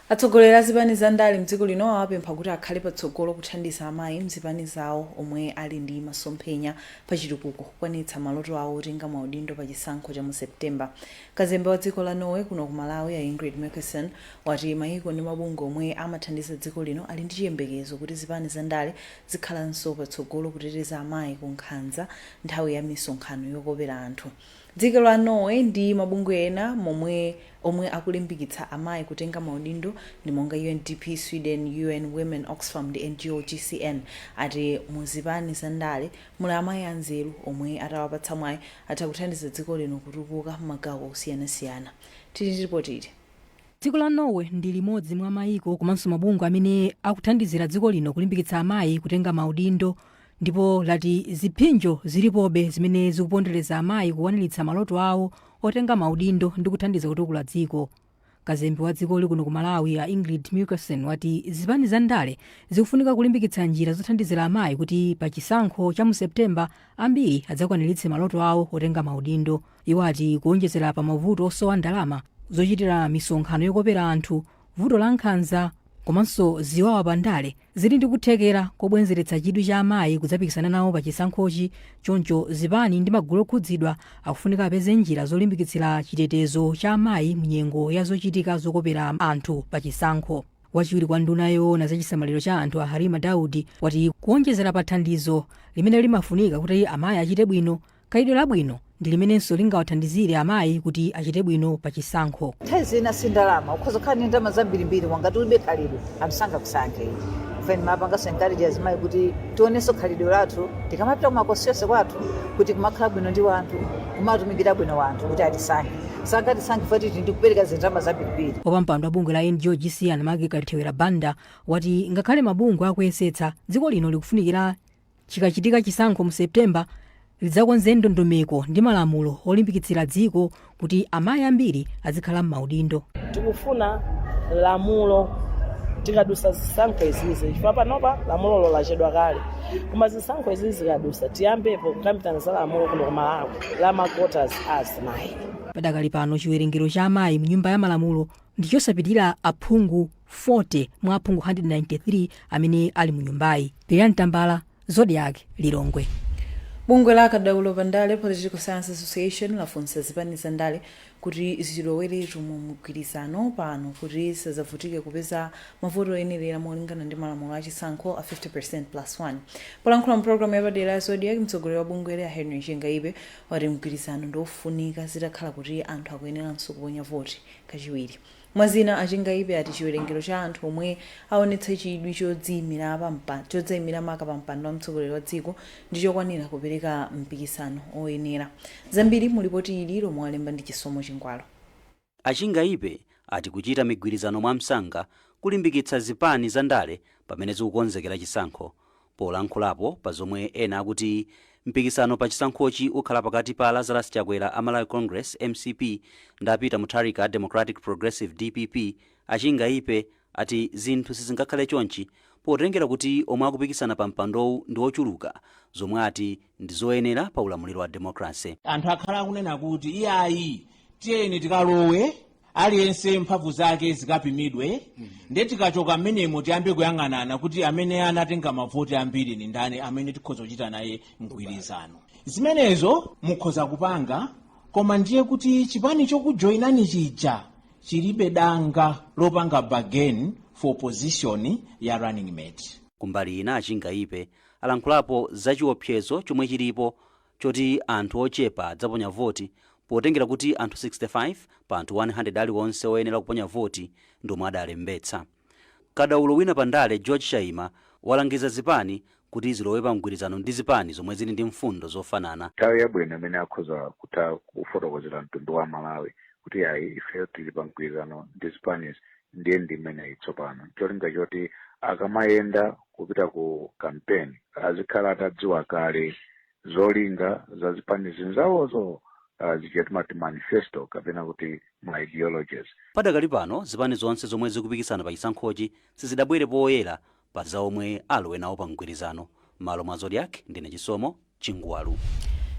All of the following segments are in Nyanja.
atsogoleri a zipani za ndale mdziko lino awapempha kuti akhale patsogolo kuthandiza amayi mzipani zawo omwe ali ndi masomphenya pa chitukuko kukwanitsa maloto awo otenga maudindo pa chisankho cha mu september kazembe wa dziko la norway kuno ku malawi a ingrid mikelsen wati mayiko ndi mabungwe omwe amathandiza dziko lino ali ndi chiyembekezo kuti zipani za ndale Zikhalanso patsogolo kuteteza amayi ku nkhanza nthawi ya misonkhano yokopera anthu. Dziko la Norway ndi mabungwe ena momwe omwe akulimbikitsa amayi kutenga maudindo ndi monga UNDP, Sweden, UN Women, Oxfam ndi NGO GCN ati mu zipani za ndale muli amayi anzeru omwe atawapatsa mwayi atha kuthandiza dziko lino kutukuka mmagawo osiyanasiyana. Tili ndi ripoti ili. Dziko la Norway ndi limodzi mwa mayiko komanso mabungwe amene akuthandizira dziko lino kulimbikitsa amayi kutenga maudindo ndipo lati ziphinjo zilipobe zimene zikupondereza amayi kukwaniritsa maloto awo otenga maudindo ndi kuthandiza kutukula dziko. Kazembe wa dzikoli kuno ku Malawi a Ingrid Mikelsen wati zipani za ndale zikufunika kulimbikitsa njira zothandizira amayi kuti pa chisankho cha mu September ambiri adzakwaniritse maloto awo otenga maudindo. Iwo ati kuonjezera pa mavuto osowa ndalama zochitira misonkhano yokopera anthu, vuto la nkhanza komanso ziwawa pa ndale zili ndi kuthekera kobwenzeretsa chidwi cha amayi kudzapikisana nawo pa chisankhochi, choncho zipani ndi magulu okhudzidwa akufunika apeze njira zolimbikitsira chitetezo cha amayi mnyengo ya zochitika zokopera anthu pa chisankho. Wachiwiri kwa nduna yoona za chisamaliro cha anthu a Halima Daudi wati kuonjezera pa thandizo limene limafunika kuti amayi achite bwino, Khalidwe labwino ndi limenenso lingawathandizire amayi kuti achite bwino pa chisankho. Nthawi zina si ndalama, ukhoza kukhala ndi ndalama zambirimbiri koma ngati ulibe khalidwe anthu sangakusankhe. Ife timapanganso encourage azimayi kuti tionenso khalidwe lathu tikamapita ku ma constituency kwathu kuti kumakhala bwino ndi wanthu, kumatumikira bwino wanthu kuti atisankhe. Sangatisankhe chifukwa tili ndi kupereka zindalama zambirimbiri. Wapampando wa bungwe la NGOGCN a Maggie Kathewera Banda wati ngakhale mabungwe akuyesetsa, dziko lino likufunikira. Chikachitika chisankho mu September, lidzakonze ndondomeko ndi malamulo olimbikitsira dziko kuti amayi ambiri azikhala m'maudindo. Tikufuna lamulo tikadusa zisankho izizi chifukwa panopa lamulolo lachedwa kale, koma zisankho izizi zikadusa tiyambepo kukambirana za lamulo kuno ku Malawi la ma quotas azimayi. Padakali pano chiwerengero cha amayi m'Nyumba ya Malamulo ndi chosapitira aphungu 40 mwa aphungu 193 amene ali mu nyumbayi Pilirani Tambala zodiac lilongwe bungwe la akadaulo pa ndale political science association lafunsa zipani za ndale kuti ziloweretu mu mgwirizano pano kuti zisazavutike kupeza mavoti oyenerera molingana ndi malamulo a chisankho a 50 plus 1 polankhula mu programu yapadera ya zodiac mtsogoleri wa bungweli a henry chingaipe wati mgwirizano ndi ofunika zitakhala kuti anthu akuyeneranso kuponya voti kachiwiri Mwa zina, a Chingaipe ati chiwerengero cha anthu omwe awonetsa chidwi chodziyimi chodzaimira maka pa mpando wa mtsogoleri wa dziko ndi chokwanira kupereka mpikisano oyenera. Zambiri mu lipoti ili lomwe walemba ndi Chisomo Chingwalu. A Chingaipe ati kuchita migwirizano mwamsanga kulimbikitsa zipani za ndale pamene zikukonzekera chisankho. Polankhulapo pa zomwe ena akuti mpikisano pa chisankhochi ukhala pakati pa Lazarus Chakwera a Malawi Congress, mcp, ndi a Peter Mutharika a Democratic Progressive, dpp, a Chingaipe ati zinthu sizingakhale chonchi potengera kuti omwe akupikisana pa mpandowu ndi ochuluka zomwe ati ndi zoyenera pa ulamuliro wa democracy. anthu akhala akunena kuti iyayi tiyeni tikalowe aliyense mphamvu zake zikapimidwe nde tikachoka mmenemo tiyambe kuyang'anana kuti amene anatenga mavoti ambiri ni ndani amene tikhoza kuchita naye mgwirizano zimenezo mukhoza kupanga koma ndiye kuti chipani chokujoyinani chija chilibe danga lopanga bargain for position ya running mate kumbali ina a Chingaipe alankhulapo za chiopsezo chomwe chilipo choti anthu ochepa adzaponya voti potengera kuti anthu 65 pa anthu 100 aliwonse oyenera kuponya voti ndi omwe adalembetsa. Kadaulo wina pa ndale George Chaima walangiza zipani kuti zilowe pa mgwirizano ndi zipani zomwe zili ndi mfundo zofanana. Nthawi yabwino imene akhoza kutha kufotokozera mtundu wa Amalawi kuti iyayi ifeyo tili pa mgwirizano ndi zipani ndiye ndi imeneyi tsopano, cholinga choti akamayenda kupita ku kampeni azikhala atadziwa kale zolinga za zipani zinzawozo uh, zija timati manifesto kapena kuti ma ideologies Padakali pano, zipani zonse zomwe zikupikisana pa chisankhochi sizidabwere poyera pa za omwe alowe nawo pa mgwirizano, m'malo mwa Zodiak ndine Chisomo, Chingwalu.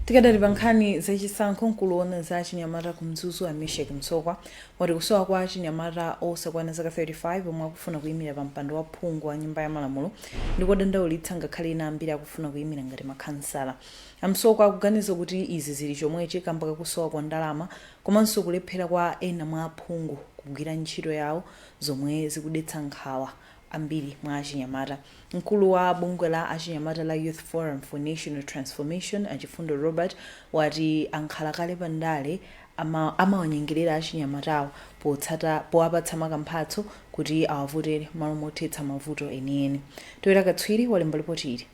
Tikadali pa nkhani za chisankho, mkulu woona za achinyamata ku Mzuzu a Misheck Msokwa wati kusowa kwa achinyamata osakwana zaka 35 omwe akufuna kuyimira pa mpando wa phungu wa nyumba ya malamulo ndi kodandaulitsa ngakhale ena ambiri akufuna kuyimira ngati makhansala. A Msokwa akuganiza kuti izi zili chomwechi kamba kakusowa kwa ndalama komanso kulephera kwa ena mwa aphungu kugwira ntchito yawo zomwe zikudetsa nkhawa Ambiri mwa achinyamata. Mkulu wa bungwe la achinyamata la Youth Forum for National Transformation a Chifundo Robert wati ankhalakale pa ndale amawanyengerera achinyamatawa potsata powapatsa timphatso kuti awavotere m'malo mothetsa mavuto enieni. Towera Katswiri walemba lipoti ili.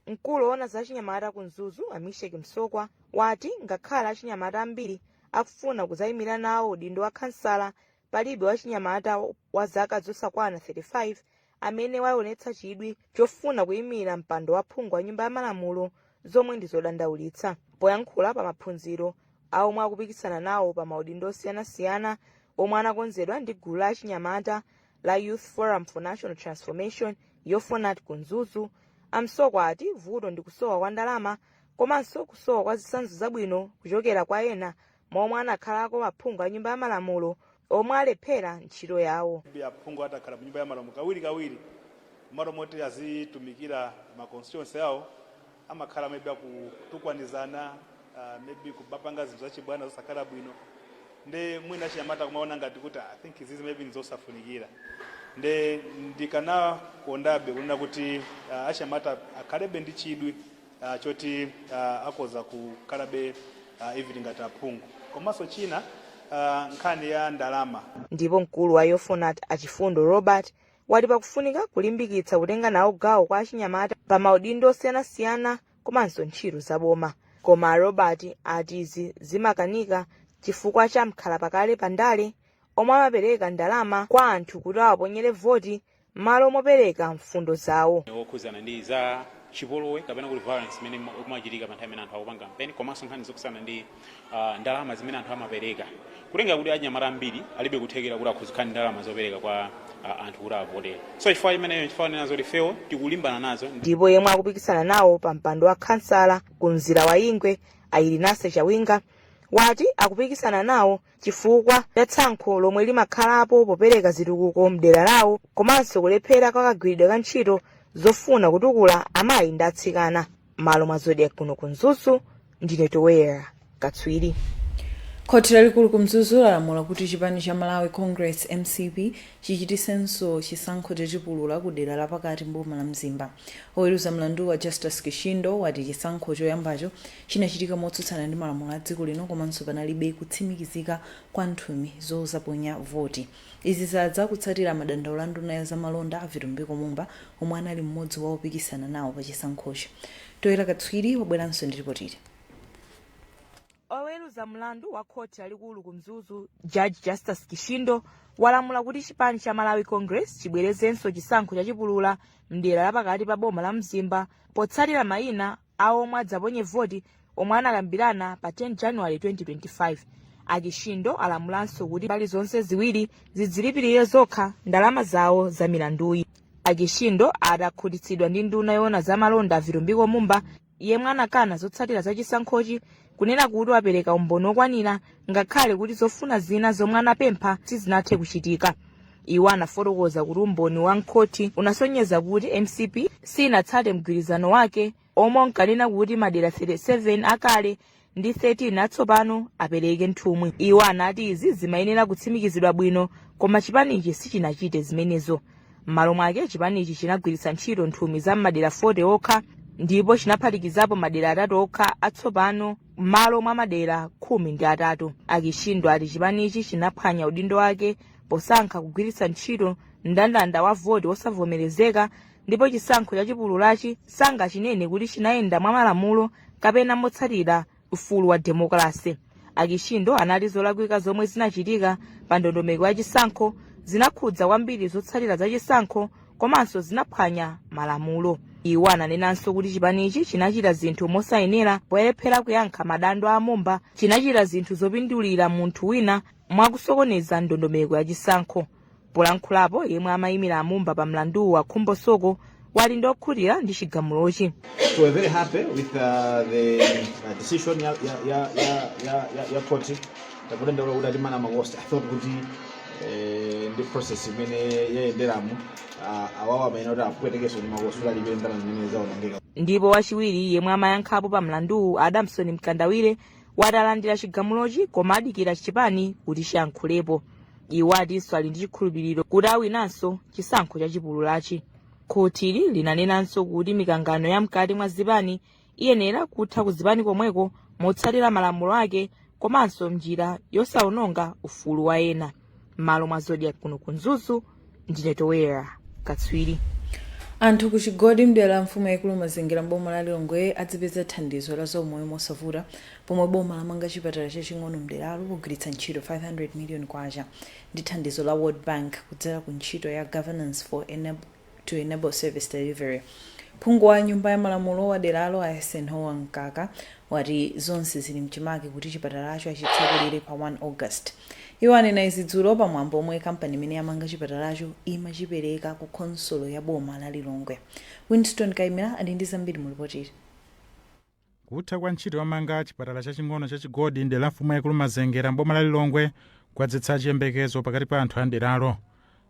Mkulu owona za achinyamata ku Mzuzu a Misheck Msokwa wati ngakhale achinyamata ambiri akufuna kudzayimira nawo udindo wa khansala, Palibe wachinyamata wa zaka zosakwana 35 amene waonetsa chidwi chofuna kuimira mpando wa phungu wa Nyumba ya Malamulo, zomwe ndi zodandaulitsa. Poyankhula pa maphunziro a omwe akupikisana nawo pa maudindo osiyanasiyana omwe anakonzedwa ndi gulu la achinyamata la Youth Forum for National Transformation, Yofonat, ku Mzuzu, a Msokwa ati vuto ndi kusowa kwa ndalama komanso kusowa kwa zitsanzo zabwino kuchokera kwa ena mwa omwe anakhalako aphungu a nyumba ya malamulo omwe alephera ntchito yawo aphungu atakhala mu nyumba ya malamulo kawirikawiri mmalo moti azitumikira ma constituency awo amakhala maybe akutukwanizana uh, maybe kumapanga zinthu zachibwana zosakhala bwino nde mwina achinyamata kumaona ngati kuti i think izizi maybe ndizosafunikira nde ndikanakondabe kunena kuti uh, achinyamata akhalebe ndi chidwi uh, choti uh, akoza kukhalabe uh, even ngati aphungu komanso china uh, nkhani ya ndalama ndipo mkulu wa yofonat a chifundo robert wati pakufunika kulimbikitsa kutenga nawo gawo kwa achinyamata pa maudindo osiyanasiyana komanso ntchito zaboma koma robert ati izi zimakanika chifukwa cha ankhalakale pa ndale omwe amapereka ndalama kwa anthu kuti awaponyere voti m'malo mopereka mfundo zawo. zokhudzana ndi za chipolowe kapena kuti violence imene imachitika pa nthawi imene anthu akupanga kampeni komanso nkhani zokhudzana ndi ah, ndalama zimene anthu amapereka kutengera kuti achinyamata ambiri alibe kuthekera kuti akhoza kukhala ndi ndalama zopereka kwa ah, anthu kuti awavotere so chifukwa chimeneyo chifukwa nazo ifeyo tikulimbana nazo ndipo yemwe akupikisana nawo pa mpando wa khansala ku mzilawaingwe a ellinase chawinga wati akupikisana nawo chifukwa cha tsankho lomwe limakhalapo popereka zitukuko mdera lawo komanso kulephera kwa kagwiridwe ka ntchito zofuna kutukula amayi ndi atsikana mmalo mwa zodiac kuno ku mzuzu ndine towera katswiri khoti lalikulu ku mzuzu lalamula kuti chipani cha malawi congress mcp chichitisenso chisankho chachipulula ku dera lapakati mboma la mzimba oweruza mlanduwu a justus kishindo wati chisankho choyambacho chinachitika motsutsana ndi malamulo a dziko lino komanso panalibe kutsimikizika kwa nthumwi zodzaponya voti. Izi zadza kutsatira madandaulo a nduna ya za malonda a Vitumbiko Mumba omwe anali m'modzi wa opikisana nawo pa chisankhocho. Towera Katswiri wabweranso ndi lipoti ili. Oweruza mlandu wa khoti lalikulu ku Mzuzu Judge Justus Kishindo walamula kuti chipani cha Malawi Congress chibwerezenso chisankho chachipulula mdera la pakati pa boma la Mzimba potsatira maina awo omwe adzaponye voti omwe anakambirana pa 10 january 2025 a kishindo alamulanso kuti mbali zonse ziwiri zidzilipirire zokha ndalama zawo za milanduyi a kishindo adakhutitsidwa ndi nduna yoona za malonda vitumbiko mumba yemwe anakana zotsatira za chisankhochi kunena kuti wapereka umboni wokwanira ngakhale kuti zofuna zina zomwe anapempha sizinathe kuchitika iwo anafotokoza kuti umboni wa mkhoti unasonyeza kuti mcp sinatsate mgwirizano wake omwe unkanena kuti madera 37 akale ndi 13 atsopano apereke nthumwi iwo anati izi zimayenera kutsimikizidwa bwino koma chipanichi sichinachite zimenezo M'malo mwake, chipanichi chinagwiritsa ntchito nthumwi za m'madera 40 okha ndipo chinaphatikizapo madera atatu okha atsopano m'malo mwa madera khumi ndi atatu. A Kishindo ati chipanichi chinaphwanya udindo wake posankha kugwiritsa ntchito mndandanda wa voti wosavomerezeka ndipo chisankho chachipululachi sangachinene kuti chinayenda mwa malamulo kapena motsatira ufulu wa democracy a kishindo anati zolakwika zomwe zinachitika pa ndondomeko ya chisankho zinakhudza kwambiri zotsatira za chisankho komanso zinaphwanya malamulo iwo ananenanso kuti chipanichi chinachita zinthu mosayenera polephera kuyankha madandaulo a mumba chinachita zinthu zopindulira munthu wina mwakusokoneza ndondomeko ya chisankho Polankhulapo, yemwe amayimira a Mumba pa mlanduwu a Khumbo Soko wati ndi okhutira ndi chigamulochi. So we're very happy with uh, the uh, decision ya ya ya ya ya, ya, ya court tangodandaula kuti atimana ma costs i thought kuti eh, ndi process imene yayenderamu uh, awawa amene kuti apwetekeso ndi ma costs kuti alibe ndalama zimene zaonongeka ndipo wachiwiri yemwe amayankhapo pa mlanduwu adamson mkandawire wati alandira chigamulochi koma adikira chipani kuti chiyankhulepo iwo atinso ali ndi chikhulupiriro kuti awinanso chisankho cha chipululachi khotili linanenanso kuti mikangano ya mkati mwa zipani iyenera kutha ku zipani komweko motsatira malamulo ake komanso mnjira yosawononga ufulu wa ena m'malo mwa zodiak kuno ku mzuzu ndine towera katswiri anthu ku chigodi mdera la mfumu yaikulu mazengera m'boma la lilongwe adzipeza thandizo la zaumoyo mosavuta pomwe boma lamanga chipatala chaching'ono mderalo pogwiritsa ntchito 500 million kwacha ndi thandizo la world bank kudzera ku ntchito ya governance for enab to enable service delivery phungu wa nyumba ya malamulo wa deralo a eisenhower mkaka wati zonse zili mchimake kuti chipatalacho achitsekulire pa 1 August. Iwo anena izi dzulo pa mwambo omwe kampani imene yamanga chipatalacho imachipereka ku khonsolo ya boma la Lilongwe. Winston Kaimira ali ndi zambiri mu lipoti ili. Kutha kwa ntchito yomanga chipatala chaching'ono cha Chigodi m'dera la mfumu yaikulu Mazengera m'boma la Lilongwe kwadzetsa chiyembekezo pakati pa anthu a m'deralo.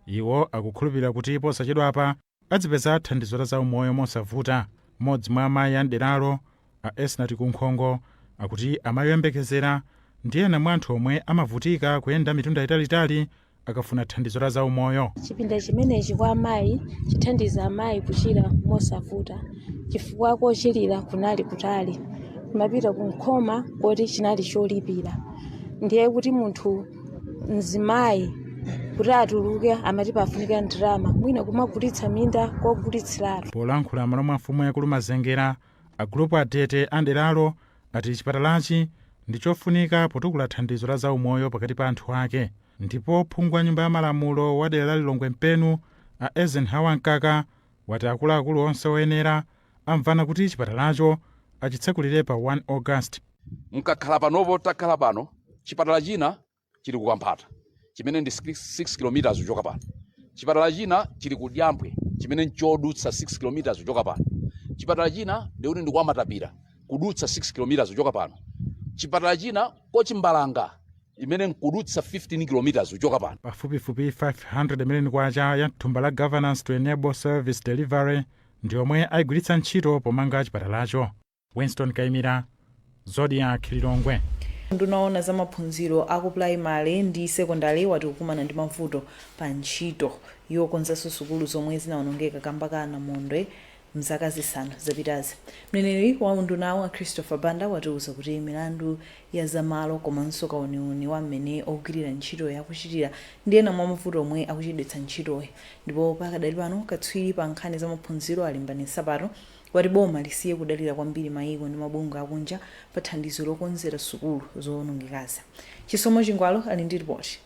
Iwo akukhulupirira kuti posachedwapa, adzipeza thandizo la za umoyo mosavuta. M'modzi mwa amayi a m'deralo, a Esnart Kunkhongo, akuti amayi oyembekezera ndi ena mwa anthu omwe amavutika kuyenda mitunda italiitali akafuna thandizo la za umoyo. Chipinda chimenechi kwa amayi chithandiza amayi kuchira mosavuta chifukwa kochilira kunali kutali, timapita ku Nkhoma koti chinali cholipira ndiye kuti munthu mzimayi kuti atuluke amati pafunika ndalama mwina kumagulitsa minda kogulitsiratu polankhula m'malo mwa mfumu yaikulu mazengera a gulupu atete a mderalo ati chipatalachi ndi chofunika potukula thandizo la zaumoyo pakati pa anthu ake ndipo phungu wa nyumba ya malamulo wa dera la lilongwe mpenu a Eisenhower mkaka wati akuluakulu onse oyenera amvana kuti chipatalacho achitsekulire pa 1 August. Mkakhala panopo takhala pano chipatala china chili ku Kamphata chimene ndi 6 km kuchoka pano. Chipatala china chili ku Diamphwe chimene nchodutsa 6 km kuchoka pano. Chipatala china ndikuti ndi kwa Matapila kudutsa 6 km kuchoka pano. Chipatala china kwa Chimbalanga imene nkudutsa 15 km kuchoka pano. Pafupifupi K500 million ya Thumba la Governance to Enable Service Delivery ndi yomwe aigwiritsa ntchito pomanga chipatalacho. Winston Kaimira, Zodiak, Lilongwe. Unduna owona za maphunziro a ku pulayimale ndi sekondale wati ukukumana ndi mavuto pa ntchito yokonzanso sukulu zomwe zinaonongeka kamba ka namondwe mzaka zisanu zapitazi. Mneneri wa undunawu a Christopher Banda watiuza kuti milandu ya za malo komanso kauniuni wa mmene ogwira ntchitoyi akuchitira ndi ena mwa mavuto omwe akuchedwetsa ntchitoyi ndipo pakadali pano katswiri pa nkhani za maphunziro a Limbani Nsapato wati boma lisiye kudalira kwambiri mayiko ndi mabungwe akunja pa thandizo lokonzera sukulu zowonongekazi. Chisomo Chingwalu ali ndi lipoti.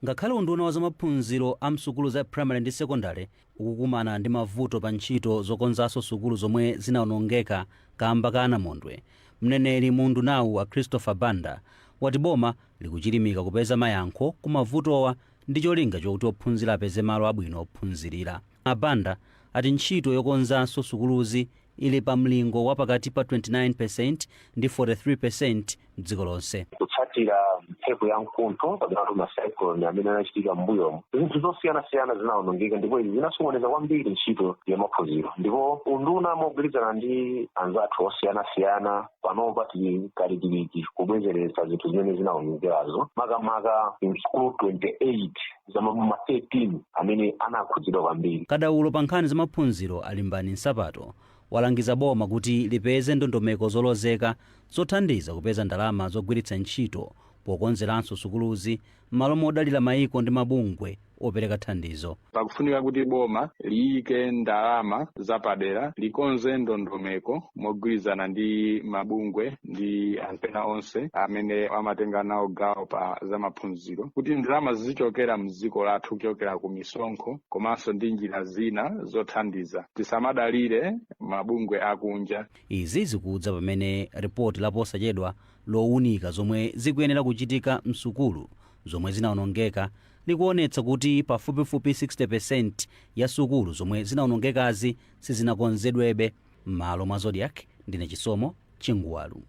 Ngakhale unduna wa zamaphunziro a msukulu za primary ndi secondary ukukumana ndi mavuto pa ntchito zokonzanso sukulu zomwe zinaonongeka kamba ka anamondwe, mneneri mu undunawu a Christopher Banda wati boma likuchilimika kupeza mayankho ku mavutowa ndi cholinga chokuti ophunzira apeze malo abwino ophunzirira. A Banda ati ntchito yokonzanso sukuluzi ili pa mlingo wa pakati pa 29% ndi 43% m'dziko lonse. kutsatira mphepo ya mkuntho kapena kuti macyclone amene anachitika m'mbuyomu zinthu zosiyanasiyana zinaonongeka ndipo izi zinasokoneza kwambiri ntchito ya maphunziro ndipo unduna mogwirizana ndi anzathu osiyanasiyana panopa tili kalikiliki kubwezeretsa zinthu zimene zinaonongekazo makamaka msukulu 28 za maboma 13 amene anakhudzidwa kwambiri. Kadaulo pa nkhani za maphunziro a Limbani Nsapato walangiza boma kuti lipeze ndondomeko zolozeka zothandiza kupeza ndalama zogwiritsa ntchito pokonzeranso sukuluzi m'malo modalira maiko ndi mabungwe opereka thandizo. Pakufunika kuti boma liyike ndalama zapadera, likonze ndondomeko mogwirizana ndi mabungwe ndi anthu ena onse amene amatenga nawo gawo pa za maphunziro kuti ndalama zizichokera mdziko lathu kuchokera ku misonkho komanso ndi njira zina zothandiza tisamadalire mabungwe akunja izi zikudza pamene ripoti laposachedwa lowunika zomwe zikuyenera kuchitika msukulu zomwe zinaonongeka likuonetsa kuti pafupifupi 60% ya sukulu zomwe zinaonongekazi sizinakonzedwebe M'malo mwa Zodiak, ndine Chisomo Chingwalu.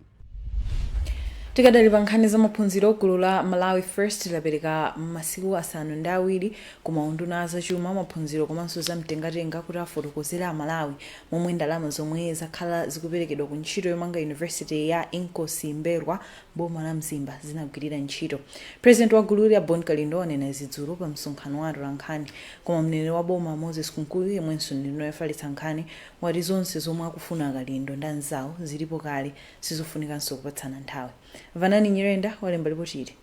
Tikadali pa nkhani za maphunziro, gulu la Malawi First lapereka masiku asanu ndi awiri ku maunduna a zachuma, maphunziro komanso za mtengatenga kuti afotokozere Amalawi momwe ndalama zomwe zakhala zikuperekedwa ku ntchito yomanga University ya Inkosi M'mbelwa m'boma la Mzimba zinagwirira ntchito. President wa gululi a Bon Kalindo anena izi dzulo pa msonkhano wa atolankhani koma mneneri wa boma Moses Kunkuyu yemwenso ndi nduna yofalitsa nkhani wati zonse zomwe akufuna Kalindo ndi anzawo zilipo kale sizofunikanso kupatsana nthawi. Vanani Nyirenda walemba lipoti ili.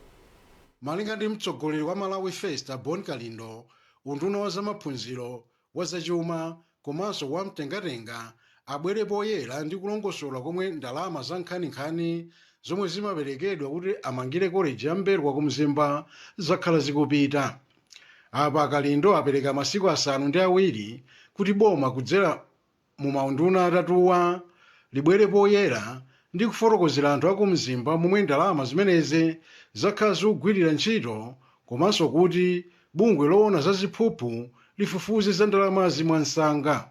Malinga ndi mtsogoleri wa Malawi First Bon Kalindo, unduna wa zamaphunziro, wa zachuma komanso wa mtengatenga abwere poyera ndi kulongosola komwe ndalama za nkhaninkhani zomwe zimaperekedwa kuti amangire koleji ya M'mbelwa ku Mzimba zakhala zikupita. Apa a Kalindo apereka masiku asanu ndi awiri kuti boma kudzera mu maunduna atatuwa libwere poyera ndi kufotokozera anthu aku Mzimba momwe ndalama zimenezi zakhala zikugwirira ntchito komanso kuti bungwe loona za ziphuphu lifufuze za ndalamazi mwamsanga.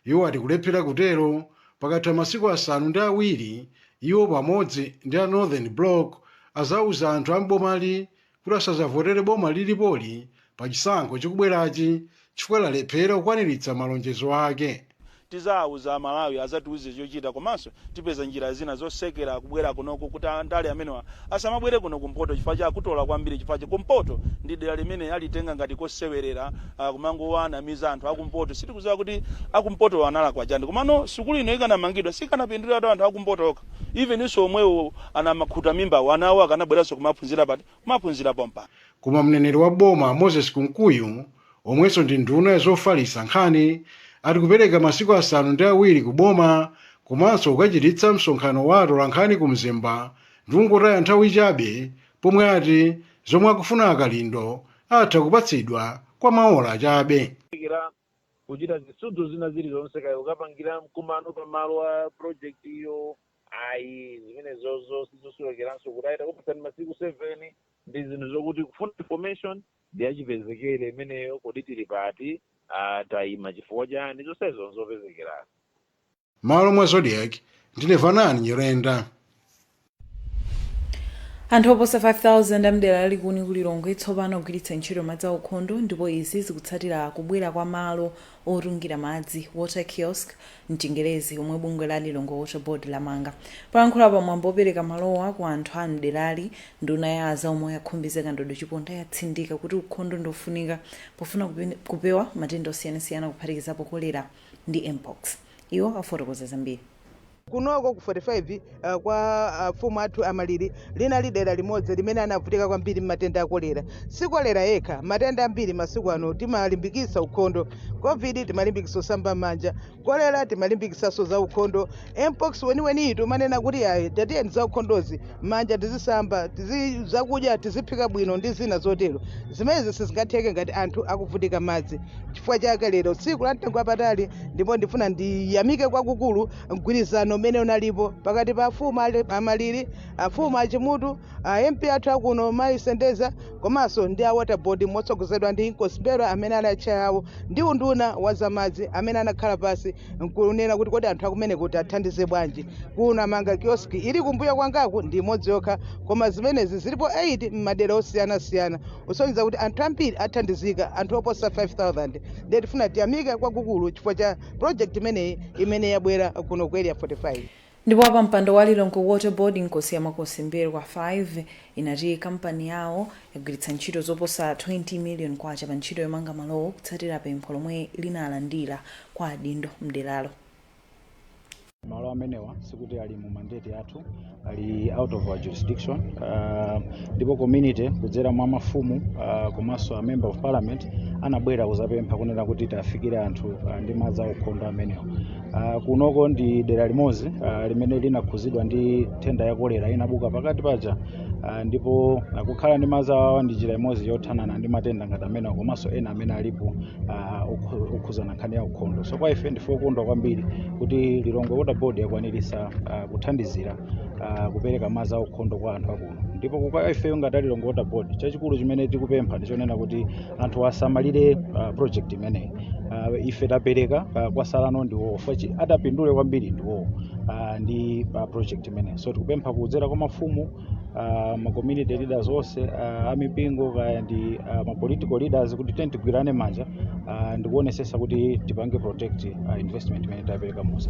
Iwo ati kulephera kutero pakatha masiku asanu ndi awiri, iwo pamodzi ndi a Northern Block azauza anthu a m'bomali kuti asadzavotere boma lilipoli pa chisankho chikubwerachi chifukwa lalephera kukwaniritsa malonjezo ake. Tizawuza amalawi azatiuze chochita komanso tipeza njira zina zosekera kubwera kunoko kuti andale amenewa asamabwere kuno kumpoto chifukwa cha kutola kwambiri chifukwa cha kumpoto ndi dera limene alitenga ngati kosewerera kumangowanamiza anthu akumpoto sitikuziwa kuti akumpotowa analakwa chani komano sukulu ino ikanamangidwa sikanapinduliratu anthu akumpoto okha eveninso omwewo anamakhuta mimbawo ana awo akanabweranso kumaphunzira pati? Kumaphunzira pompano. Koma mneneri wa boma Moses Kunkuyu omwenso ndi nduna ya zofalitsa nkhani ati kupereka masiku asanu ndi awiri ku boma komanso kukachititsa msonkhano wa atolankhani ku Mzimba ndi kungotaya nthawi chabe pomwe ati zomwe akufuna a Kalindo atha kupatsidwa kwa maola chabe. kuchita zisudzo zina zilizonse kaya kukapangira mkumano pa malo a project iyo ayi zimenezozo sizosowekeranso kuti ayi takupatsani masiku seven ndi zinthu zokuti kufuna information ndi yachipezekere imeneyo kodi tili pati ah, tayima chifukwa chani zonsezo nzopezekerazo malo mwa zodiac ndine vanani nyirenda anthu oposa 5000 amdera la likuni ku lilongwe tsopano akugwiritsa ntchito madzi aukhondo ndipo izi zikutsatira kubwera kwa malo otungira madzi water kiosk mchingerezi omwe bungwe la lilongwe water board lamanga polankhula pa mwambo opereka malowa ku anthu a mderali nduna ya zaumoyo a khumbize kandodo chiponda yatsindika kuti ukhondo ndiofunika pofuna kupe- kupewa matenda osiyanasiyana kuphatikizapo kolera ndi mpox. Iwo afotokoza zambiri. Kunoko ku 45 uh, kwa afumu uh, athu a Maliri linali dera limodzi limene anavutika kwambiri mmatenda a kolera. Si kolera yekha, matenda ambiri masiku ano timalimbikitsa ukhondo. Covid timalimbikitsa usamba m'manja, kolera timalimbikisanso za ukhondo. Mpox weniweniyi timanena kuti ayi tatiyeni zaukhondozi, manja tizisamba, tizi zakudya tiziphika bwino ndi zina zotero. Zimenezi sizingatheke ngati anthu akuvutika madzi. Chifukwa chake lero tsiku la mtengo wapatali ndipo ndifuna ndiyamike kwakukulu mgwirizano umene unalipo pakati pa afumu a Maliri, afumu a Chimutu, A MP athu a kuno, mayi Sendeza, komanso ndi a Water Board motsogozedwa ndi Inkosi M'mbelwa amene ali atcheya awo, ndi unduna wa zamadzi amene anakhala pansi n'kunena kuti kodi anthu akumeneko tiwathandize bwanji. Kuno amanga kiosk ili kumbuyo kwangaku ndi imodzi yokha, koma zimenezi zilipo 8 m'madera osiyanasiyana, kusonyeza kuti anthu ambiri athandizika, anthu oposa 5,000. Ndiye tifuna tiyamike kwakukulu chifukwa cha project imeneyi imene yabwera kuno ku Area 45. Ndipo wapampando wa Lilongwe Water Board Inkosi ya Makosi M'mbelwa 5 inati kampani yawo yagwiritsa ntchito zoposa K20 million pa ntchito yomanga malowo kutsatira pempho lomwe linalandira kwa adindo mderalo. Malo amenewa sikuti ali mu mandate athu, ali out of our jurisdiction uh, ndipo community kudzera mwa mafumu uh, komanso a member of parliament anabwera kuzapempha kunena kuti tiafikire anthu uh, ndi madzi aukhondo amenewa. Uh, kunoko ndi dera limodzi uh, limene linakhuzidwa ndi nthenda ya kolera inabuka pakati paja uh, ndipo uh, kukhala ndi madzi awawa ndi njira imodzi yothanana ndi matenda ngati amenewa komanso ena amene alipo uh, okhu- okhuzana nkhani ya ukhondo so kwa ife ndife okondwa kwambiri kuti Lilongwe Water Board yakwanirisa uh, kuthandizira uh, kupereka madzi aukhondo kwa anthu akuno ndipo kwa ife ngati a Lilongwe Water Board chachikulu chimene tikupempha ndichonena kuti anthu asamalire uh, project imeneyi uh, ife tapereka uh, kwatsala ano ndiwowo amene atapindule kwambiri ndiwowo uh, ndi uh, project imeneyi so tikupempha kudzera kwa mafumu uh, ma community leaders onse uh, amipingo kaya ndi uh, ma political leaders kuti tiyeni tigwirane manja uh, ndikuonesesa kuti tipange protect uh, investment imene tapereka musa